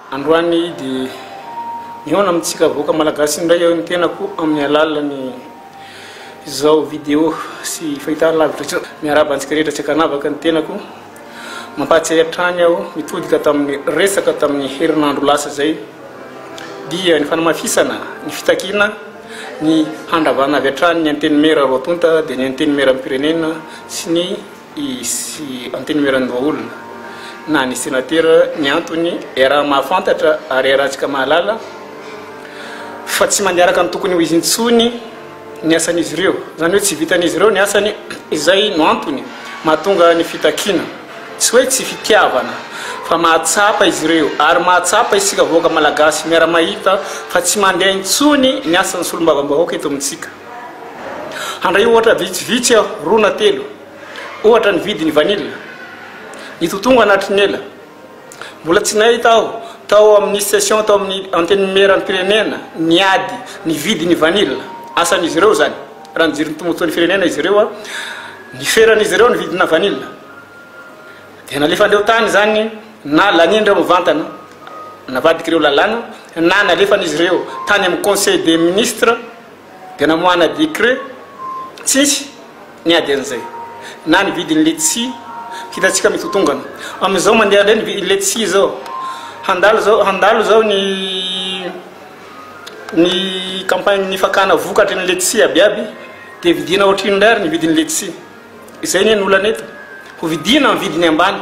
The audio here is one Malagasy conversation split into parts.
Androany dia mihaona amintsika vahoaka Malagasy indray aho ny tenako amin'ny alalan'ny izao video sy fahitana lavitra izao. Miarahaba antsika rehetra tsy ankanavaka ny tenako. Mampahatsiahy hatrany aho mitodika tamin'ny resaka tamin'ny herinandro lasa izay dia ny fanamafisana ny fitakiana ny handravana avy hatrany ny Antenimiera roa tonta dia ny Antenimieram-pirenena sy ny sy Antenimieran'ny Vahaolana na ny Senatera ny antony iaraha mahafantatra ary iarahantsika mahalala fa tsy mandiaraka ny tokony ho izy intsony ny asan'izy ireo. Izany hoe tsy vitan'izy ireo ny asany izay no antony mahatonga ny fitakiana. Tsy hoe tsy fitiavana fa mahatsapa izy ireo ary mahatsapa isika vahoaka Malagasy miara-mahita fa tsy mandeha intsony ny asan'ny Solombavambahoaka eto amintsika. Handray ohatra vitsivitsy aho, roa na telo. Ohatra, ny vidin'ny vanila. Nitotonga anatry ny ela. Mbola tsy nahita aho, tao amin'ny session tao amin'ny Antenimierampirenena, ny ady, ny vidin'ny vanila. Asan'izy ireo izany, raha nijery ny tombontsoan'ny firenena izy ireo, niferan'izy ireo ny vidina vanila. Dia nalefandreo tany izany, na laniandreo mivantana, navadik'ireo lalàna, na nalefan'izy ireo tany amin'ny Conseil des Ministres, Dia namoahana décret, tsisy niady an'izay. Na ny vidin'ny letchi, hitantsika mitotongana. Amin'izao mandeha indray ny vidin'ny letchi izao. Handalo izao, handalo izao ny ny campagne-n'ny fakana vokatry ny letchi abiaby, dia vidiana ohatr'inona indray ary ny vidin'ny letchi. Izay anie ny olana eto. Hovidiana amin'ny vidiny ambany.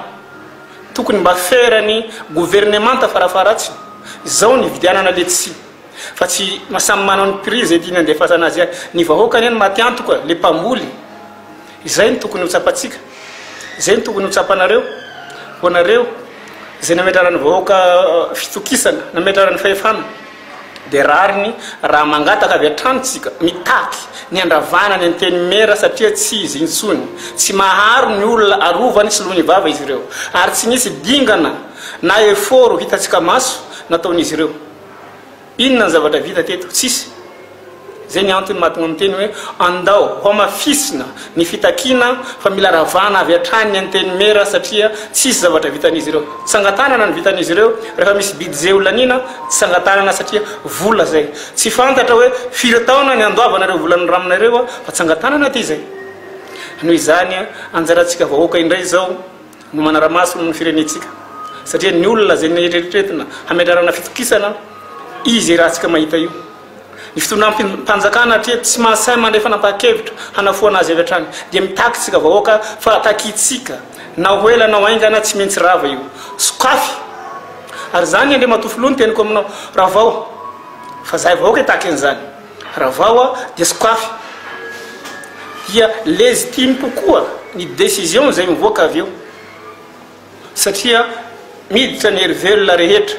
Tokony mba feran'ny governemanta fara faharatsiny izao ny hividianana letchi. Fa tsy samy manao ny prix izay tiany handefasana azy ihany. Ny vahoaka anie no maty antoka, ilay mpamboly. Izay no tokony ho tsapantsika. Izay no tokony ho tsapanareo. Ho anareo izay nametraran'ny vahoaka fitokisana, nametraran'ny fahefana, dia rariny raha mangataka avy hatrany isika, mitaky ny handravana ny Antenimiera satria tsy izy intsony. Tsy maharo ny olona arovany soloiny vava izy ireo. Ary tsy nisy dingana na effort hitantsika maso nataon'izy ireo. Inona ny zavatra vita teto? Tsisy. Izay ny antony mahatonga miteny hoe andao hamafisina ny fitakiana fa mila ravana avy hatrany ny Antenimiera satria tsisy zavatra vitan'izy ireo. Tsangan-tanana no vitan'izy ireo, rehefa misy budget ho laniana, tsangan-tanana satria vola izay. Tsy fantatra hoe firy taona ny handoavana ireo vola noramina ireo fa tsangan-tanana aty izay. Noho izany, anjarantsika vahoaka indray izao. no manara-maso ny firenentsika satria ny olona izay neritreretina hametrarana fitokisana izy iarahantsika mahita io ny fitondram-panjakana atria tsy mahasahy mandray fanapahan-kevitra hanafoana azy avy hatrany dia mitaky tsika vahoaka fa takitsika na ho ela na ho aingana tsy maintsy rava io sokafy ary izany Andriamatoa Filoha ny teniko aminao ravao fa zahay vahoaka hitaky an'izany Ravao dia sokafy dia légitime kokoa ny décision izay mivoaka avy eo satria miditra ny hery velona rehetra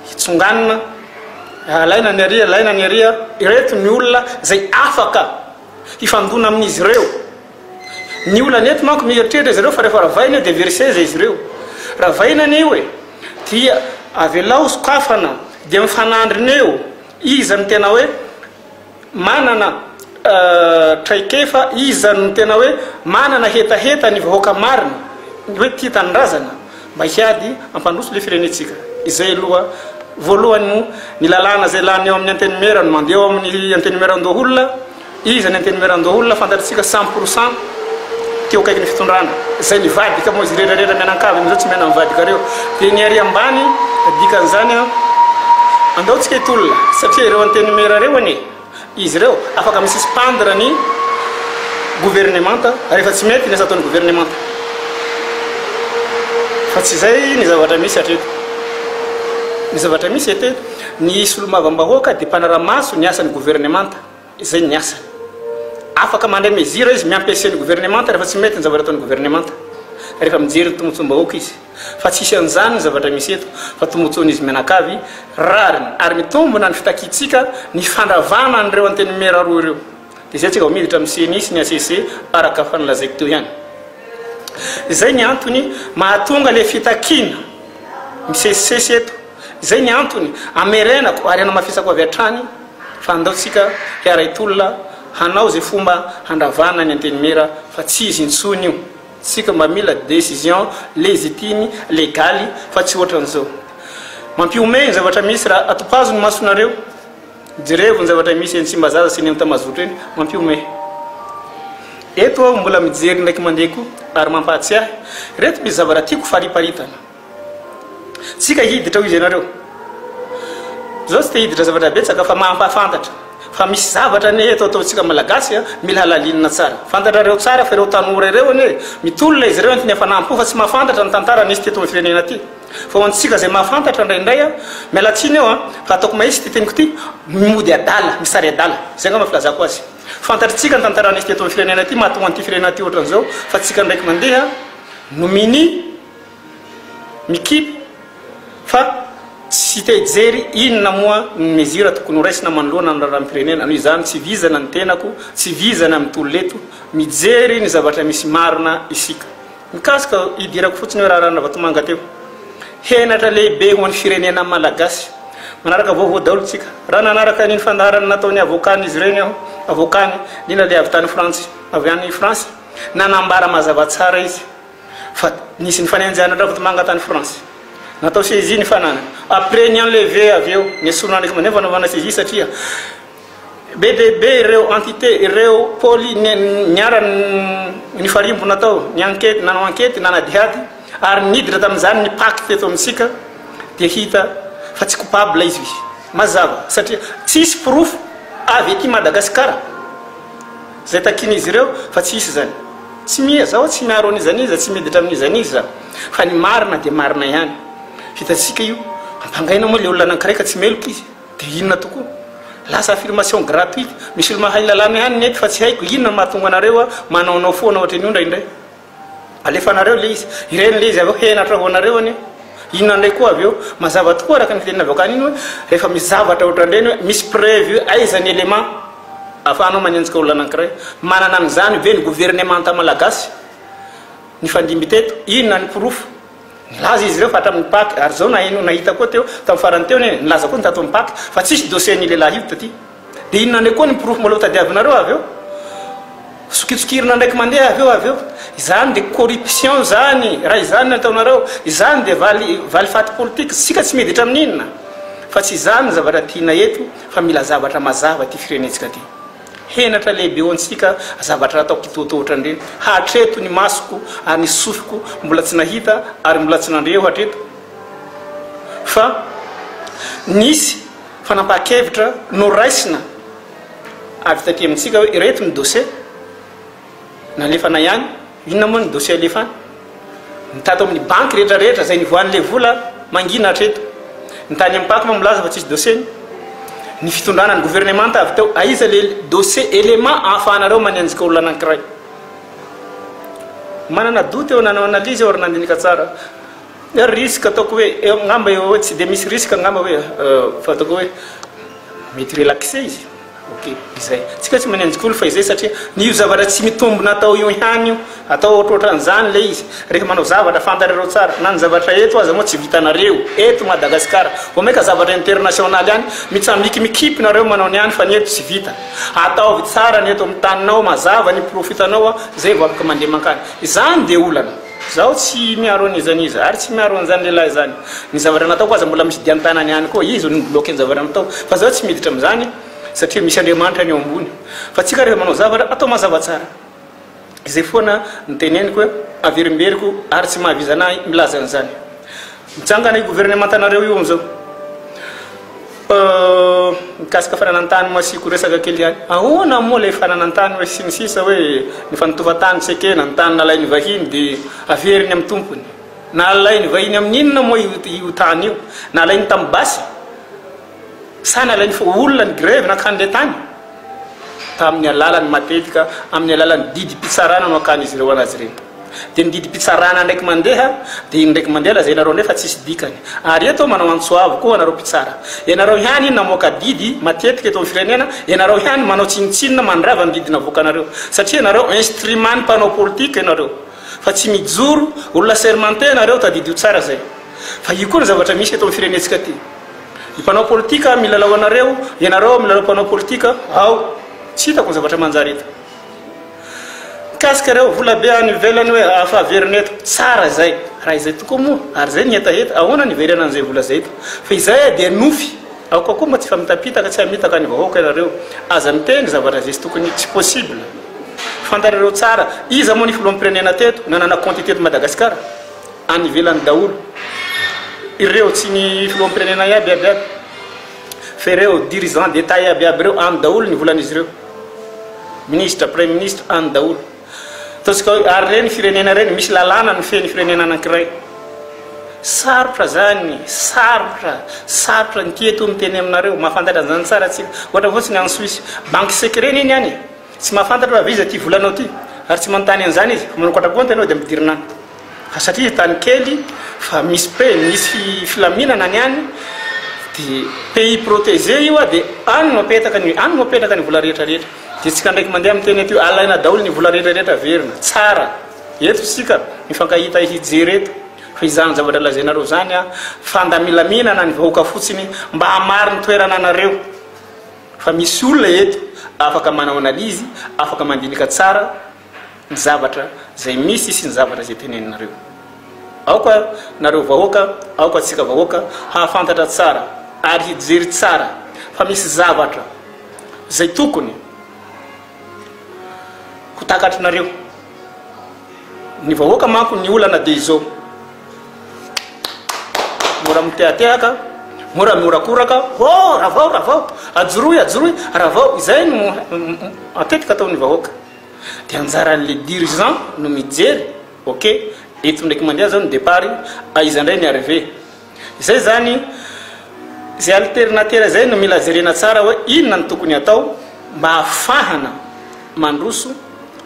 hitsonganina alaina ny ary alaina ny ary ireto ny olona izay afaka hifandona amin'izy ireo ny olana eto manko mieritreritra izy ireo fa rehefa ravaina io dia very seza izy ireo ravaina anio e dia avelao sokafana dia mifanandrina eo Iza no tena hoe manana traikefa, iza no tena hoe manana hetaheta ny vahoaka marina, ny hoe tia tanindrazana mba hiady hampandroso ilay firenentsika. Izay aloha voalohany moa ny lalàna izay lany eo amin'ny Antenimiera no mandeha eo amin'ny Antenimieran-doholona. Iza ny antenimieran-doholona fantatritsika cent pour cent teo akaikin'ny fitondrana, izay nivadika moa izy redraredra mianankavy amin'izao tsy miaina mivadika reo dia ny ary ambany dikan'izany an! Andao tsika hitolona satria ireo antenimiera reo anie izy reo afaka mi suspendre ny gouvernemanta rehefa tsy mety ny asa ataon'ny gouvernemanta fa tsy izay ny zavatra misy hatreto. Ny zavatra misy eto ny solombavam-bahoaka dia mpanara-maso ny asan'ny gouvernemanta. Izay ny asany. Afaka mandray mezira izy, miampese ny governemanta rehefa tsy mety ny zavatra ataon'ny governemanta. Rehefa mijery ny tombontsoam-bahoaka izy. Fa tsy hisy an'izany ny zavatra misy eto, fa tombontsoan'izy mianakavy rariny. Ary mitombina ny fitakiantsika ny fandravana an'ireo antenimiera roa ireo. Dia izay isika vao miditra amin'ny ceni sy ny HCC, araka fa nolazaiko teo ihany. Izay ny antony mahatonga ilay fitakiana misesisesy eto. Izay ny antony hamerenako ary hanamafisako avy hatrany fa andao tsika hiaray tolona hanao izay fomba handravana ny Antenimiera fa tsy izy intsony io. Tsika mba mila decision légitime, legaly fa tsy ohatran'izao. Mampihomehy ny zavatra misy raha atopazo ny masonareo. Jerevo ny zavatra misy eny Tsimbazaza sy eny Antamazotro eny. Mampihomehy. Eto aho mbola mijery indraiky mandeha koa ary mampahatsiahy ireto mpizavaratiako fariparitana. Tsika hiditra hoy ianareo. Zaho tsy te hiditra zavatra betsaka fa mampahafantatra fa misy zavatra anie eto ataontsika malagasy a, mila halalinina tsara. Fantatrareo tsara fa ireo tanora ireo anie mitolona izy ireo entin'ny hafanam-po fa tsy mahafantatra ny tantara nisy teto amin'ny firenena ity. Fa ho antsika izay mahafantatra indraindray a, miala tsiny eo a, fa ataoko mahitsy ity teniko ity, mody adala, misary adala. Izay angamba filazako azy. Fantatritsika ny tantara nisy teto amin'ny firenena ity mahatonga an'ity firenena ity ohatran'izao fa tsika ndraiky mandeha no minia. mikipy fa tsy te hijery inona moa ny mesure tokony ho raisina manoloana ny raharaham-pirenena, noho izany tsy vizana ny tenako, tsy vizana ny tolona eto, mijery ny zavatra misy marina isika. Mikasika, hidirako fotsiny eo raharahan-dRavatomanga teo. Henatra lehibe ho an'ny firenena malagasy. Manaraka vaovao daholo isika. Raha nanaraka an'iny fandaharana nataon'ny avokan'izy ireny aho, avokany, indrindra ilay avy tany Frantsy, avy any France, nanambara mazava tsara izy. Fa nisy nifanenjehana an-dRavodimangat any France. Natao saisie ny fananany. Après ny enlever avy eo, nesorina any Fomba fanaovana saisie satria be dia be ireo entités, ireo pôly niara nifarimbona tao, niankety, nanao ankety, nanadihady, ary niditra tamin'izany ny pacte eto amintsika, dia hita fa tsy coupable izy. Mazava, satria tsisy porofo avy aty Madagasikara. Izay takian'izy ireo fa tsy hisy izany. Tsy miha zaho tsy miaro an'iza n'iza, tsy miditra amin'iza n'iza za. Fa ny marina dia marina ihany. Hitantsika io. Ampangaina moa ilay olona anankiray ka tsy meloka izy. Dia inona tokoa? Lasa affirmation gratuite. Misy olo mahay lalàna ihany ny eto fa tsy haiko inona no mahatonga anareo manaonao foana ohatry ny ondra indray. Alefanareo ilay izy. Ireny ilay izy avy eo henatra ho anareo anie. Inona indray koa avy eo? Mazava tokoa araka ny fiteny navoakany iny hoe rehefa misy zavatra ohatran'ireny hoe misy preuve hoe aiza ny élément ahafahanao manenjika olona anankiray? Manana an'izany ve ny governemanta malagasy? Nifandimby teto. Inona ny porofo? Nilaza izy ireo fa hatramin'ny Paques ary izao naheno nahita koa teo tamin'ny farany teo anie nilaza koa ny tato amin'ny Paques fa tsisy dossier an'io lehilahy io taty. Dia inona indray koa ny porofo maloto tadiavinareo avy eo? Sokitsokirina ndraiky mandeha avy eo avy eo. Izany dia corruption izany, raha izany no ataonareo. Izany dia valy, valifaty politika. Isika tsy miditra amin'ny inona. Fa tsy izany ny zavatra tiana eto, fa mila zavatra mazava ity firenentsika ity. Henatra lehibe ho antsika zavatra atao kitoatoa ohatrandreny. Hatreto ny masoko ary ny sofiko mbola tsy nahita ary mbola tsy nandre eo hatreto fa nisy. Fanapahan-kevitra noraisina avy taty amintsika hoe ireto ny dosie nalefana ihany, inona moa ny dosie alefana? Ny tato amin'ny banky rehetra rehetra izay nivoahan'ilay vola mangina hatreto. Ny tany amin'ny pac moa milaza fa tsisy dosieny. Ny fitondrana ny governemanta avy teo, aiza ilay dosie élément ahafahanareo manenjika olona anankiray? Manana doute eo, nanao analyse eo ary nandinika tsara. Ny risque ataoko hoe angamba eo hoe tsy dia misy risque angamba hoe fa ataoko hoe mety relaxer izy ok izay tsika tsy manenjy kolo fa izay satria ny io zavatra tsy mitombina atao io ihany io atao ohatrohatran'izany le izy rehefa manao zavatra fantatrareo tsara na ny zavatra eto aza moa tsy vitanareo eto Madagasikara vao mainka zavatra international ihany mitsamikimikipy nareo manao ny any fa ny eto tsy vita ataovy tsara ny eto amin'ny taninao mazava ny porofo hitanao a zay vao afaka mandeha mankany izany dia olana Zaho tsy miaro an'izany izy ary tsy miaro an'izany lehilahy izany. Ny zavatra nataoko aza mbola misy dian-tanany ihany koa. Izy no ni-bloquer ny zavatra nataoko. Fa zaho tsy miditra amin'izany satria misy Andriamanitra any ao ambony. Fa tsika rehefa manao zavatra, atao mazava tsara. Izay foana no teneniko hoe averimberiko ary tsy mahavizana ahy milaza an'izany. Mijangana io governemantanareo io amzao mikasika fananantany masiako resaka kely ihany ahoana moa ilay fananantany hoe sy ny sisa hoe ny fanatovatany tsy ekena ny tany nalainy vahiny de averiny amin'ny tompony nalainy vahiny amin'ny inona moa io tany io nalainy tamin'ny basy Sahala ilay nifoha olona ny grevy nankany ilay tany. Tamin'ny alalany matetika amin'ny alalan'ny didim-pitsarana no ankan'izy ireo an'azy ireny. Dia ny didim-pitsarana indraiky mandeha dia iny indraiky mandeha lazainareo nefa tsisy dikany. Ary eto manao antso avo koa anareo mpitsara. Ianareo ihany namoaka didy matetika eto amin'ny firenena, ianareo ihany manao tsinontsinona mandrava ny didy navoakanareo. Satria ianareo instrument-n'ny mpanao politika ianareo. Fa tsy mijoro, olona sermenté ianareo, tadidio tsara izay. Fa io koa ny zavatra misy eto amin'ny firenentsika ity. Ny mpanao politika milalao anareo, ianareo milalao mpanao politika, ao, tsy hitako ny zavatra manjary eto. Mikasika ireo vola be any ivelany hoe afa averina eto, tsara izay. Raha izay tokoa moa, ary izay ny hetaheta, ahoana ny hiverena an'izay vola izay eto? Fa izay dia nofy. Aoka koa mba tsy famitapitaka, tsy hamitaka ny vahoaka ianareo. Aza miteny zavatra izay tsy tokony, tsy possible. Fantatrareo tsara, iza moa ny filoham-pirenena teto, nanana kaonty teto Madagasikara? Any ivelany daholo ireo tsy ny filoham-pirenena iaby iaby iaby fa ireo dirigeants d'Etat iaby iaby ireo any daholo ny volan'izy ireo ministre prime ministre any daholo ataontsika hoe ary ireny firenena ireny misy lalàna ny feny firenena anankiray sarotra zany sarotra sarotra ny tieto ny teny aminareo mahafantatra an'izany tsara tsika ohatra fotsiny any Suisse banque secret neny any Tsy mahafantatra hoe avy iza ity volanao ity, ary tsy manontany an'izany izy. Vao manokatra kaonty ianao dia midirina any. Fa satria izy tany kely, fa misy pre, misy filaminana ny any, dia pays protégé io, dia any no apetaka ny, any no apetraka ny vola rehetra rehetra. Dia isika ndraiky mandeha miteny aty hoe alaina daholo ny vola rehetra rehetra averina. Tsara. Eto isika mifankahita hijery eto. Fa izany zavatra lazainareo izany an, fandamilaminana ny vahoaka fotsiny mba hamaro ny toerana anareo. Fa misy olona eto afaka manao analyse, afaka mandinika tsara ny zavatra izay misy sy ny zavatra izay teneninareo. Aoka nareo vahoaka, aoka antsika vahoaka hahafantatra tsara ary hijery tsara fa misy zavatra izay tokony ho takatrinareo. Ny vahoaka manko ny olana dia izao mora mitehatehaka mora miorakoraka oh ravao ravao ajoroy ajoroy ravao izay no matetika ataon'ny vahoaka dia anjaran'le dirigeant no mijery ok eto ndraiky mandeha zao ny depart aiza indray ny arrivé Izay izany, izay alternatera izay no mila jerena tsara hoe inona no tokony hatao mba hahafahana mandroso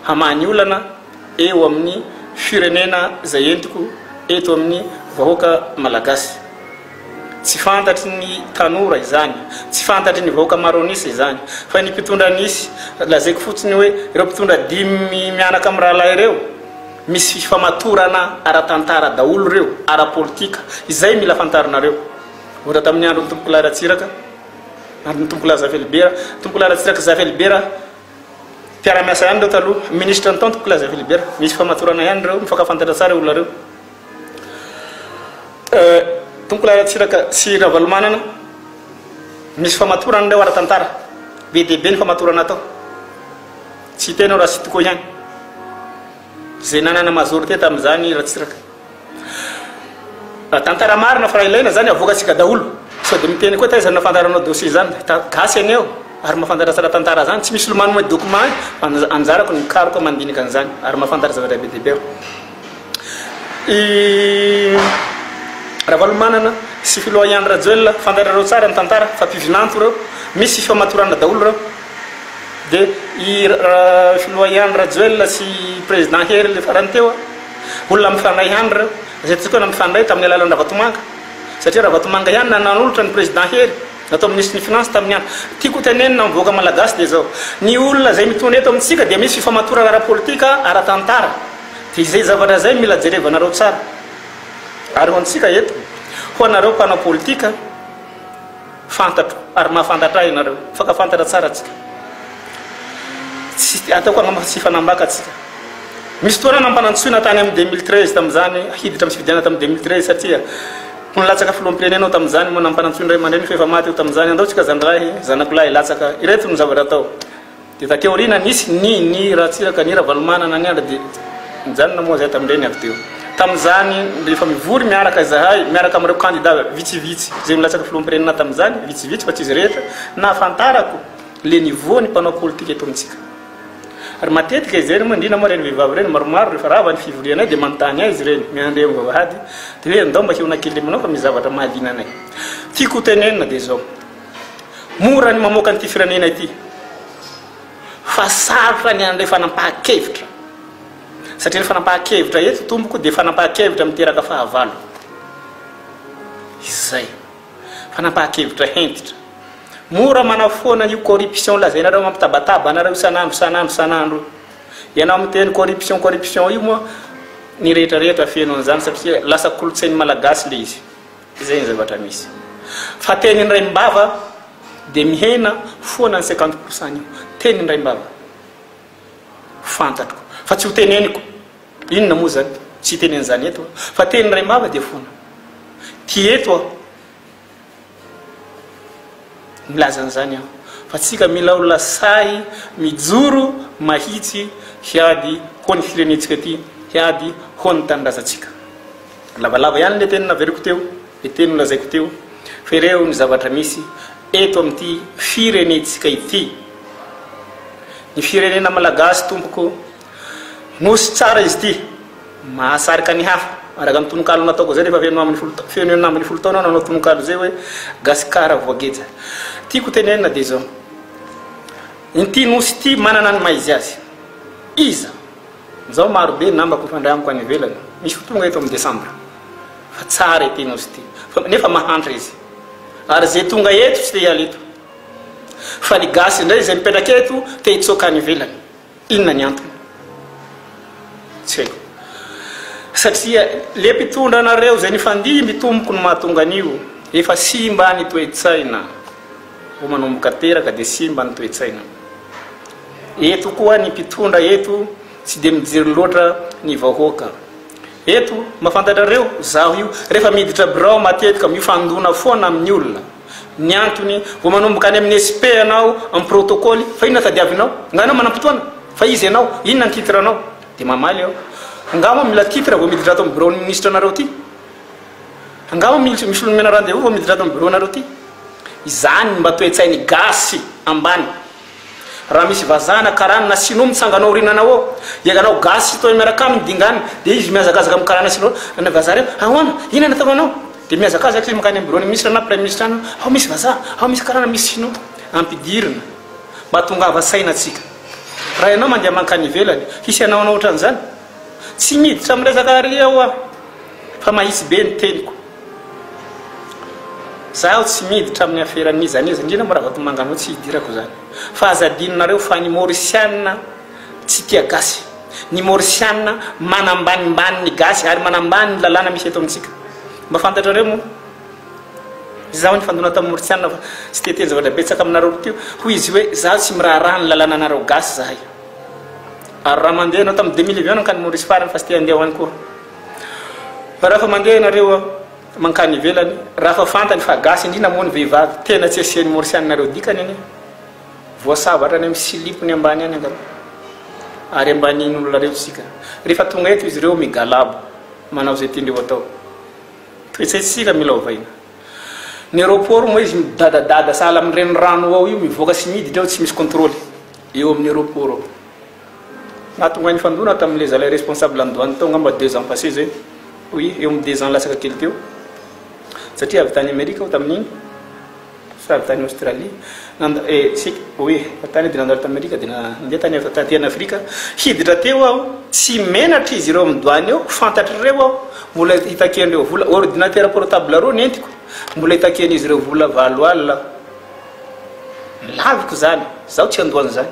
hamaha ny olana eo amin'ny firenena izay entiko eto amin'ny vahoaka malagasy. Tsy fantatry ny tanora izany, tsy fantatry ny vahoaka maro an'isa izany, fa ny mpitondra nisy, lazaiko fotsiny hoe ireo mpitondra dimy mianaka amin'ny rahalahy ireo, Misy fifamatorana ara-tantara daholo ireo, ara-politika. Izay mila fantarinareo. Ohatra tamin'ny andron'ny Tompokolahy Ratsiraka, andron'ny Tompokolahy Zafelibera. Tompokolahy Ratsiraka Zafelibera, mpiara-miasa ihany ireo taloha. Ministra ny tao ny Tompokolahy Zafelibera. Misy fifamatorana ihany ireo, mifankafantatra tsara ireo olona ireo. Tompokolahy Ratsiraka sy Ravalomanana, misy fifamatorana ireo ara-tantara. Be dia be ny fifamatorana atao. Tsy hitenao raha tsy tokoa ihany izay nanana majorité tamin'izany Ratsiraka. Tantara marina fa ilaina izany avoakantsika daholo. Sao dia miteny koa taiza no nahafantaranao dossier izany. Gasy ianao ary mahafantatra tsara tantara izany. Tsy misy lomanonao ny documents an, anjarako ny hikaroka mandinika an'izany ary mahafantatra zavatra be dia be aho. I Ravalomanana sy Filoha Ihany Rajoelina, fantatrareo tsara ny tantara fa mpivinanto ireo. Misy fifamatorana daholo ireo. Dia i filoha ihany Rajoelina sy président Hery le farany teo a, olona mifandray ihany ireo, izay tokana mifandray tamin'ny alalan'i Ravatomanga, satria Ravatomanga ihany na nanolotra an'i président Hery natao ministre ny finance tamin'ny an, tiako hotenenina amin'ny vahoaka Malagasy dia izao, ny olona izay mitondra eto amintsika dia misy fifamatorana ara-politika, ara-tantara, dia izay zavatra izay mila jerevanareo tsara, ary ho antsika eto, ho anareo mpanao politika, Fantatro ary mahafantatra ahy ianareo, mifankafantatra tsara tsika. Tsy ataoko angamba tsy hifanambaka tsika. Misy fotoana nampanantsoina tany amin'ny 2013 tamin'izany hiditra amin'ny fifidianana tamin'ny 2013 satria ho nilatsaka filoham-pirenena aho tamin'izany moa nampanantsoin'ny ray aman-dreniko efa maty aho tamin'izany, andao tsika zandry lahy, zanako lahy hilatsaka. Ireto no zavatra atao. Dia taty aoriana nisy ny ny Ratsiraka, ny Ravalomanana, ny Andry dia nijanona moa izahay tamin'ireny avy teo. Tamin'izany rehefa mivory miaraka izahay, miaraka amin'ireo kandida vitsivitsy izay nilatsaka filoham-pirenena tamin'izany, vitsivitsy fa tsy izy rehetra, nahafantarako le niveau ny mpanao politika eto amintsika. Ary matetika izay moa indrindra moa ireny vehivavy ireny maromaro rehefa rava ny fivorianay dia manontany ahy izy ireny, miandry amin'ny vavahady, dia hoe ndao mba hihaona kely aminao fa misy zavatra mahaliana anay. Tiako hotenenina dia izao. Mora ny mamoaka an'ity firenena ity fa sarotra ny handray fanampahan-kevitra satria ny fanampahan-kevitra eto tompoko dia fanampahan-kevitra miteraka fahavalo. Izay. Fanampahan-kevitra hentitra. Mora manafoana io corruption lazainareo mampitabataba anareo isan'andro isan'andro isan'andro. Ianao miteny corruption corruption io moa ny rehetra rehetra feno an'izany satria lasa kolontsain'ny malagasy le izy. Izay ny zavatra misy. Fa teny an-draimbava dia mihena foana ny cinquante pour cent an'io. Teny an-draimbava. Fantatro. Fa tsy ho teneniko. Inona moa izany? Tsy hiteny an'izany eto aho. Fa teny an-draimbava dia foana. Ty eto aho. Milaza an'izany aho. Fa tsika mila olona sahy mijoro mahitsy hiady ho an'ny firenentsika ity, hiady ho an'ny tanindrazantsika. Lavalava ihany ilay teny naveriko teo, ilay teny nolazaiko teo, fa ireo ny zavatra misy eto amin'ity firenentsika ity. Ny firenena malagasy tompoko, nosy tsara izy ity, mahasarika ny hafa. Araka ny tononkalo nataoko izay rehefa feno ambin'ny folo, feno enina ambin'ny folo taona aho nanao tononkalo izay hoe Gasikara voageja. Tiako tenenina dia izao, ity nosy ity manana ny maha izy azy. Iza? Nzao maro be ny namako mifandray amiko any ivelany, misy ho tonga eto amin'ny desambra fa tsara ity nosy ity fa nefa mahantra izy ary ze tonga eto tsy te hiala eto fa ny gasy indray ze mipetraka eto te hitsoaka any ivelany inona ny antony tsy haiko satria le mpitondra anareo ze nifandimby tompoko no mahatonga an'io efa simba ny toe-tsaina vao manomboka teraka dia simba ny toe-tsaina. Eto koa ny mpitondra eto tsy dia mijery loatra ny vahoaka. Eto, mba fantatrareo, zaho io, rehefa miditra birao matetika mifandona foana amin'ny olona. Ny antony, vao manomboka any amin'ny SP ianao, amin'ny protocole, fa inona tadiavinao? Angaha ianao manam-potoana? Fa iza ianao? Inona ny titre anao? Dia mamaly aho, angaha moa mila titre vao miditra ato amin'ny biraon'ny minisitra anareo ity? Angamba misy olona menarany Jehovah vao miditra ato amin'ny biraonareo ity. Izany mba toe-tsain'ny Gasy ambany. Raha misy vazaha na karana na Sinoa mitsangana ao aoriananao ao, dia ianao Gasy hitohy miaraka aminy dingana, dia izy mihazakazaka amin'ny karana Sinoa, Ranay vazaha reo, ahoana? Inona no ataoko anao? Dia mihazakazaka izy mankany amin'ny biraon'ny minisitra na praiminisitra any hoe, Ao misy vazaha, ao misy karana, misy Sinoa. Ampidirina mba tongava saina antsika. Raha ianao mandeha mankany ivelany, hisy hanao anao hoatran'izany? Tsy miditra amin'ny resaka àry aho. Fa mahitsy be ny teniko. Zaho tsy miditra amin'ny afera n'iza n'iza, indrindra moa Ravatomanga anao tsy hidirako izany. Fa aza adinonareo fa ny Mauriciana tsy tia gasy. Ny Mauriciana manambanimbany ny gasy ary manambany ny lalàna misy eto amintsika. Mba fantatrareo moa? Izaho nifandona tamin'ny Mauriciana fa tsy te-hiteny zavatra betsaka aminareo loatra io. Hoy izy hoe, izaho tsy miraharaha ny lalànanareo gasy izahay. Ary raha mandeha ianao, tamin'ny deux mille vy ianao nankany Maurice farany fa tsy te-handeha ho any koa. Fa raha fa mandeha ianareo mankany ivelany, raha fa fantany fa gasy, indrindra moa ny vehivavy, tena tsy asian'ny morsianinareo dikany anie. Voasava hatrany amin'ny silipo ny ambany any angamba. Ary ambanin'olonareo tsika. Rehefa tonga eto izy ireo migalabo, manao izay tiandreo atao. Toe-tsaintsika mila ovaina. Ny aeroport moa izy midadadada sahala amin'ny renirano ao io, mivoaka sy miditra ao tsy misy controle eo amin'ny aeroport ao. Nahatonga ahy nifandona tamin'ilay zalahy responsable an'i douane tao angamba deux ans passés zay, oui, eo amin'ny deux ans latsaka kely teo, satria avy tany Amerika aho tamin'iny, sa avy tany Australie, nanda, eh, tsy haiko, oui, avy tany dia nandalo tany Amerika dia nandeha tany avy taty an'Afrika, hiditra teo aho, tsy menatra izy ireo amin'ny douane eo, fantatr'ireo aho, mbola hitakian'ireo vola, ordinateur portable roa nentiko, mbola hitakian'izy ireo vola valo alina aho, nilaviko izany, izaho tsy handoa an'izany.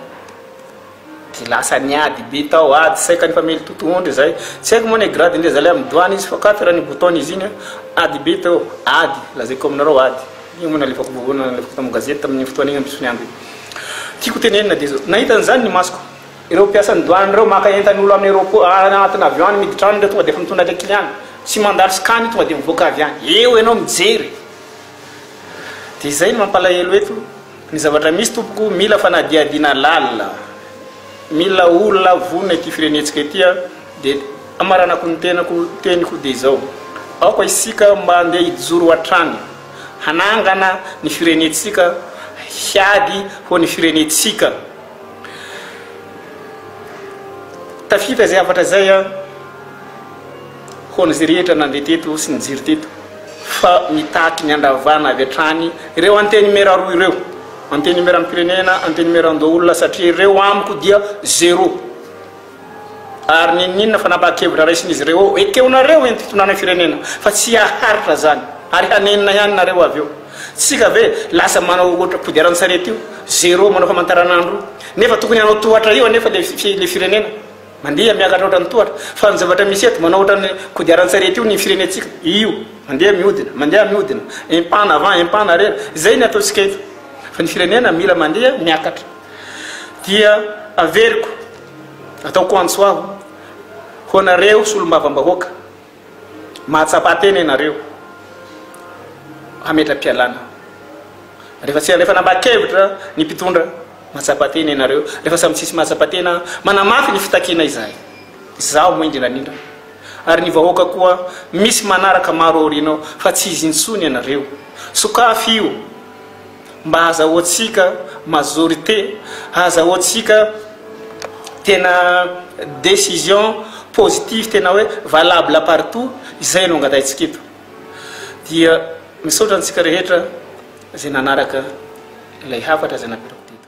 Dia lasa niady be tao ady tsy saika nifamely totohondry izay. Tsy haiko moa ny gradin-dry zalahy amin'ny douane izy fa quatre ny bouton izy iny an. Ady be teo. Ady, lazaiko aminareo ady. Io moa nalefako vaovao nalefako tamin'ny gazety tamin'iny fotoana iny amin'ny Soniabe. Tiako tenenina dia izao, nahita an'izany ny masoko. Ireo mpiasan'ny douane ireo maka entan'olo any aeroport, any anatin'ny avion any miditra any ireo tonga dia efa mitondra ilay kiliany. Tsy mandalo scan io tonga dia mivoaka avy any. Eo ianao mijery. Dia izay no mampalahelo eto ny zavatra misy tompoko mila fanadihadiana lalina mila olona vonona ity firenentsika ity a dia amaranako ny tenako teniko dia izao aoka isika mba andeha hijoro hatrany hanangana ny firenentsika hiady ho ny firenentsika tafita izay hafatra izay a Ho an'izay rehetra nandeha teto sy nijery teto fa mitaky ny handravana avy hatrany ireo antenimiera roa ireo, antenimieram-pirenena, antenimieran-doholona satria ireo amiko dia zero. Ary n'inon'inona fanapahan-kevitra raisin'izy ireo eo, ekenareo eny fitondrana firenena fa tsy haharitra izany ary hanenina ihany nareo avy eo. Tsika ve lasa manao ohatra kodiaran-tsarety io, zero manao famantaranandro io, nefa tokony hanao tohatra io anefa ilay firenena. Mandeha miakatra ohatran'ny tohatra. Fa ny zavatra misy eto, manao ohatran'ny kodiaran-tsarety io ny firenentsika. Io. Mandeha mihodina, mandeha mihodina. Un pas en avant, un pas en arrière. Izay ny ataontsika eto. Fa ny firenena mila mandeha miakatra. Dia averiko, ataoko antso aho, ho anareo solombavambahoaka. Mahatsapa tena ianareo hametra-pialana rehefa tsy alefan'ambakevitra ny mpitondra. Mahatsapa tena ianareo rehefa samy tsisy mahatsapa tena manamafy ny fitakiana izay. Izaho moa indrindra indrindra ary ny vahoaka koa misy manaraka maro aorianao fa tsy izy intsony ianareo. Sokafy io. Mba azahoantsika majorité, azahoantsika tena décision positive tena hoe valable partout, izay no angatahintsika eto. Dia misaotra antsika rehetra izay nanaraka ilay hafatra izay napetrako teto.